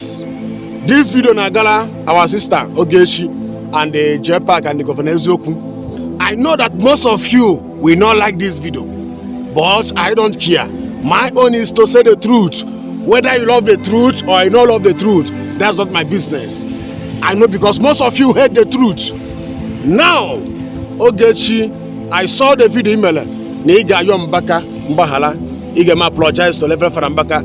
This video na-agara our sister Ogechi and the JPAC and the Governor Eziokwu. I know that most of you will not like this video, but I don't care. My own is to say the truth. Whether you love the truth or you don't love the truth, that's not my business. I know because most of you hate the truth. Now, Ogechi, I saw the video email na ị ga-ayọ Mbaka mgbaghara ị ga-eme apologize to Reverend Fada Mbaka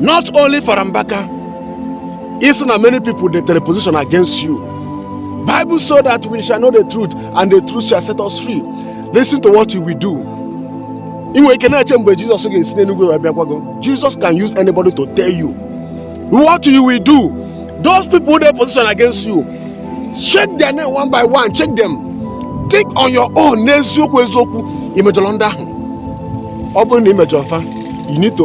not only for Mbaka ị sị na many people dey take position against you Bible say that we shall know the truth and the truth shall set us free listen to what you will do ị nwere ike na-eche mgbe Jizọs ga-esi n'eluigwe wee bịakwa gị Jizọs can use anybody to tell you what you will do those people dey position against you check their name one by one check them think on your own n'eziokwu eziokwu i mejọrọ ndị ahụ ọ bụrụ na i mejọrọ fa you need to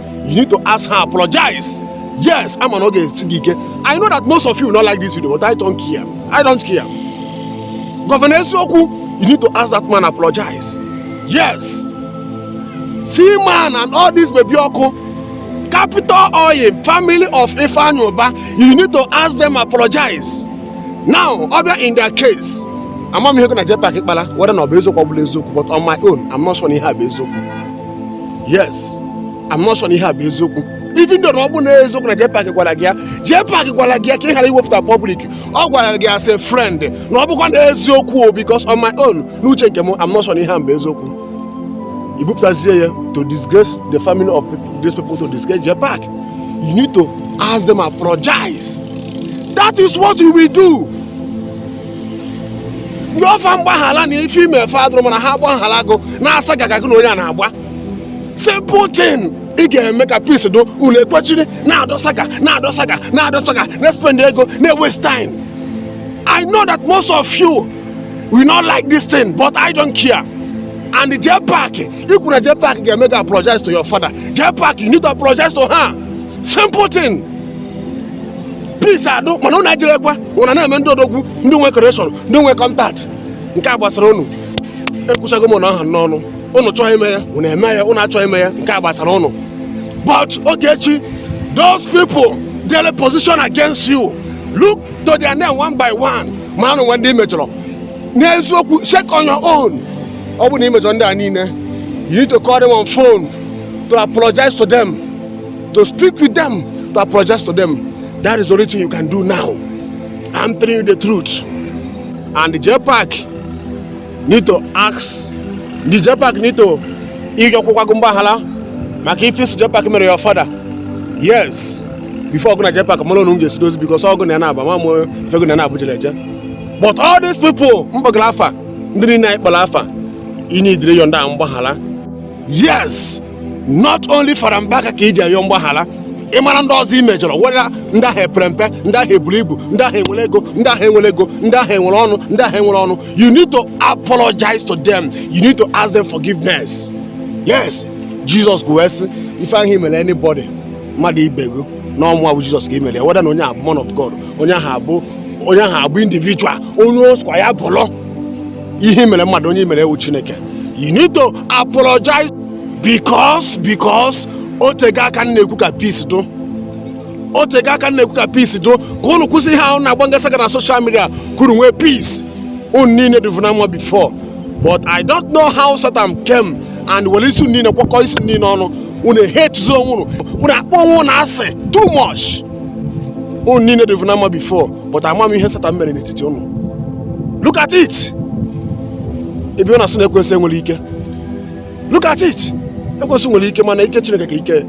you need to ask her apologize yes ama m na ọ ga-esi gị ike i know that most of you will not like this video but i don't care i don't care gọvanọ eziokwu you need to ask that man apologize yes Seaman and all this baby ọkụ capital oil family of Ifeanyi Ubah you need to ask them apologize now ọ bịa in their case amaghị m ihe gị na JPAC kpara whether na ọ bụ eziokwu ọ bụrọ eziokwu but on my own i'm not sure na ihe a bụ eziokwu yes I'm not sure ihe a bụ eziokwu even though na ọ bụ na eziokwu na Jpac gwara gị ya Jpac gwara gị ya ka ị ghara iwepụta public ọ gwara gị as a friend na ọ bụkwa na eziokwu o because on my own n'uche nke m I'm not sure ihe a bụ eziokwu i bupụtazie ya to disgrace the family of these people to disgrace Jpac you need to ask them apologize that is what you will do rịọ fa mgbaghala na ife i me fa adụrọ mma na ha gbaghala gụ na-asa gaga gị na onye a na-agba simple thing ị ga-eme ka peace dụ unu ekwechiri na-adọsa ka na-adọsa ka na-adọsa ka na-spend ego na-waste time i know that most of you will not like this thing but i don't care and the JPAC ikwu na JPAC ga-eme ka apologize to your father JPAC you need to apologize to her simple thing please adụ mana ụnụ ejirekwa ụna na-eme ndị odogwu ndị nwe connection ndị nwe contact nke a gbasara ụnụ ekwuchago m ka ọ ha m n'ọnụ ụnụ chọọ ime ya ụnụ eme ya ụnụ achọghị ime ya nke a gbasara ụnụ but Ogechi those people dey position against you look to their name one by one ma o nwe ndị i mejọrọ n'eziokwu check on your own ọ bụ na i mejọ ndị a niile you need to call them on phone to apologize to them to speak with them to apologize to them that is the only thing you can do now i'm telling you the truth and the JPAC need to ask the JPAC need to ịrịọkwụkwa gị mgbaghara maka ife ị sị JPAC mere your father yes before gụ na JPAC mara unu ga-esi dozi because ọ gụ na ya na-aba ma mụ ife gụ na na Abuja na-eje but all these people m kpọgara afa ndị niile anyị kpọrọ afa you need ịrịọ ndị a mgbaghara yes not only father mbaka ka iji ayọ mgbaghara ị mara ndị ọzọ i mejọrọ whether ndị ahụ epere mpe ndị ahụ eburu ibu ndị ahụ enwere ego ndị ahụ enwere ego ndị ahụ enwere ọnụ ndị ahụ enwere ọnụ you need to apologize to them you need to ask them forgiveness yes Jesus kwuru sị ife ahụ i mere anybody mmadụ ibe gị na ọ mụwa bụ Jizọs ka i mere ya whether na onye a bụ man of God onye ahụ abụ onye ahụ abụ individual onye ọ sọkwa ya bụrụ ihe i mere mmadụ onye i mere wụ chineke you need to apologize because because o tego aka m na-ekwu ka peace dụ o tego aka m na-ekwu ka peace dụ ka unu kwụsị ihe ahụ na-agbagasaga na social media ka unu nwee peace unu niile dịvu na mma before but i don't know how satan came and were isi unu niile kwakọ isi niile ọnụ unu hate zo onwe unu unu akpọ onwe unu asị too much unu niile dịvu na mma before but ama m ihe Satan mere n'etiti unu look at it ebe ọ na-asị na ekwensị nwere ike look at it ekwensị nwere ike mana ike Chineke ka ike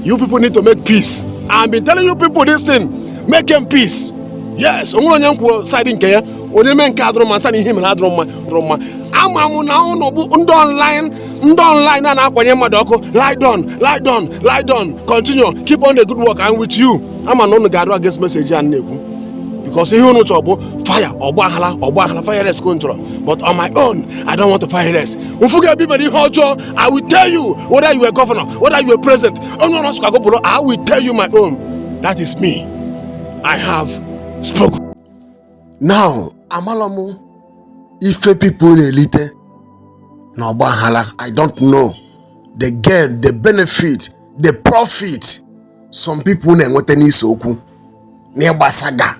you people need to make peace I've been telling you people this thing make nụ peace yes o nwerọ onye m kwụ side nke ya onye mee nke adụrọ mma m sị na ihe o mere adụrọ mma ama m na unu bụ ndị online ndị online na na-akwanye mmadụ ọkụ ride on ride on ride on continue keep on the good work i'm with you ama m na unu ga-adụ against message a m na-ekwu because ihe unu chọrọ bụ fire ọgbaghara ọgbaghara violence ka unu chọrọ but on my own i don't want violence m fụ gị ebe i mere ihe ọjọọ i will tell you whether you are governor whether you are president onye ọ sọkwa gị bụrụ i will tell you my own that is me i have spoken now amalọ m ife people na-elite na ọgbaghara i don't know the gain the benefit the profit some people na-enweta n'ise okwu n'ịgbasaga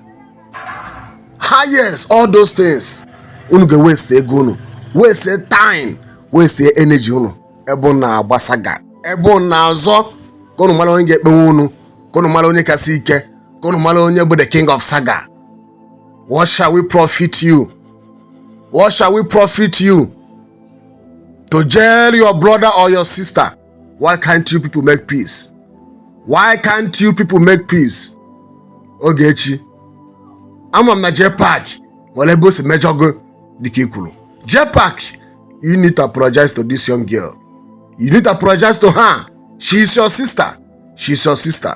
yes all those things unu ga-waste ego unu waste time waste energy unu ebe unu na-agbasaga ebe unu na-azọ ka unu mara onye ga-ekpenwe unu ka unu mara onye kasị ike ka unu mara onye bụ the king of saga what shall we profit you what shall we profit you to jail your brother or your sister why can't you people make peace why can't you people make peace ogechi ama m na jepak nwere ebe o si mejọ gị dịka i kwuru jepak you need to apologize to this young girl you need to apologize to her she is your sister she is your sister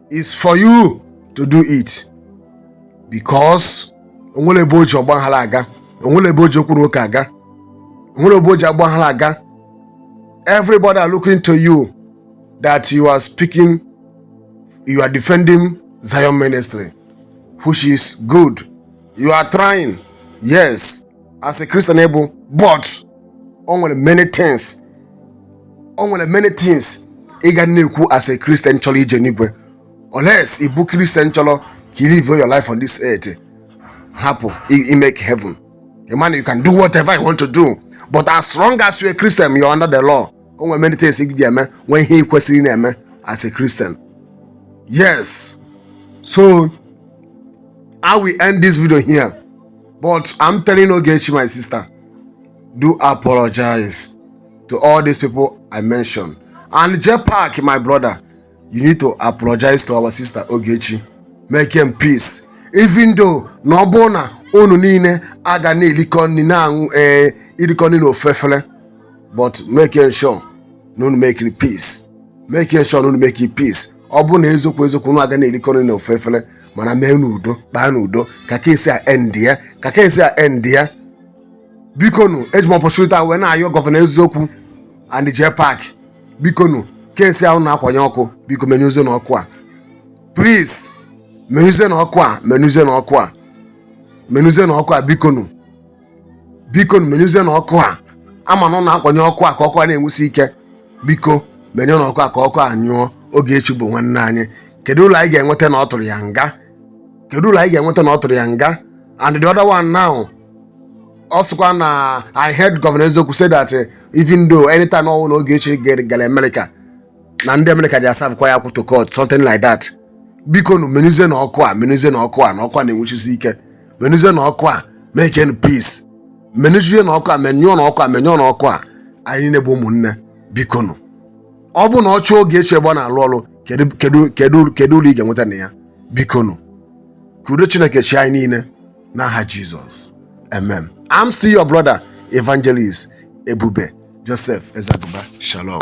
is for you to do it because o nwere ebe o ji ọgbaghara aga o nwere ebe o ji okwu na ụka aga o nwere ebe o ji ọgbaghara aga everybody are looking to you that you are speaking you are defending zion ministry which is good you are trying yes as a Christian ị bụ, but o nwere many things o nwere many things ị ga na-ekwu as a Christian chọrọ ije n'igwe unless ị bụ Christian chọrọ ka ị live your life on this earth hapụ ịmake heaven a man you can do whatever you want to do but as long as you're a Christian you are under the law o nwere many things ị ga eme nwee ihe ị kwesịrị na-eme as a Christian yes so I will end this video here But I'm telling Ogechi, my sister, do apologize to all these people I mentioned. And Jepak, my brother, you need to apologize to our sister Ogechi. Makenụ peace. Even though na ọ bụ na unu niile aga na-elikọ nni na-aṅụ ee eh, ilikọ nni n'ofu efele but making sure na unu make peace making sure na unu make peace ọ bụ na eziokwu eziokwu unu aga na-elikọ nni n'ofu efele mana meenụ udo kpaanụ udo ka case a endịa ka case a endịa bikonụ eji m opportunity a wee na-ayọ Governor Eziokwu and Jepak bikonụ case a na-akwanye ọkụ biko menyụzienụ ọkụ a please menyụzienụ ọkụ a menyụzienụ ọkụ a menyụzienụ ọkụ a bikonụ biko menyụzienụ ọkụ a ama na ọ na-akwanye ọkụ a ka ọkụ a na-enwusi ike biko menyụọnụ ọkụ a ka ọkụ a nyụọ Ogechi bụ nwanne anyị kedu ulu anyị ga-enweta na ọ tụrụ ya nga kedu ulu anyị ga-enweta na ọ tụrụ ya nga and the other one now ọ sịkwa na I heard Governor Eziokwu say that eh, even though anytime ọbụna Ogechi ga- gara America na ndị America ga-aservekwa ya court court something like that bikonụ menyụzienụ ọkụ a menyụzienụ ọkụ a na ọkụ a na-enwuchisi ike menyụzienụ ọkụ a makenụ peace menyụzienụ ọkụ a menyụọnụ ọkụ a menyụọnụ ọkụ a anyị niile bụ ụmụnne bikonụ ọ bụ na ọ chụọ Ogechi ebe ọ na-alụ ọrụ kedu kedu kedu kedu ulu ị ga-enweta na ya bikonụ ka udo Chineke chịa anyị niile n'aha Jesus amen i'm still your brother evangelist ebube joseph ezaguba shalom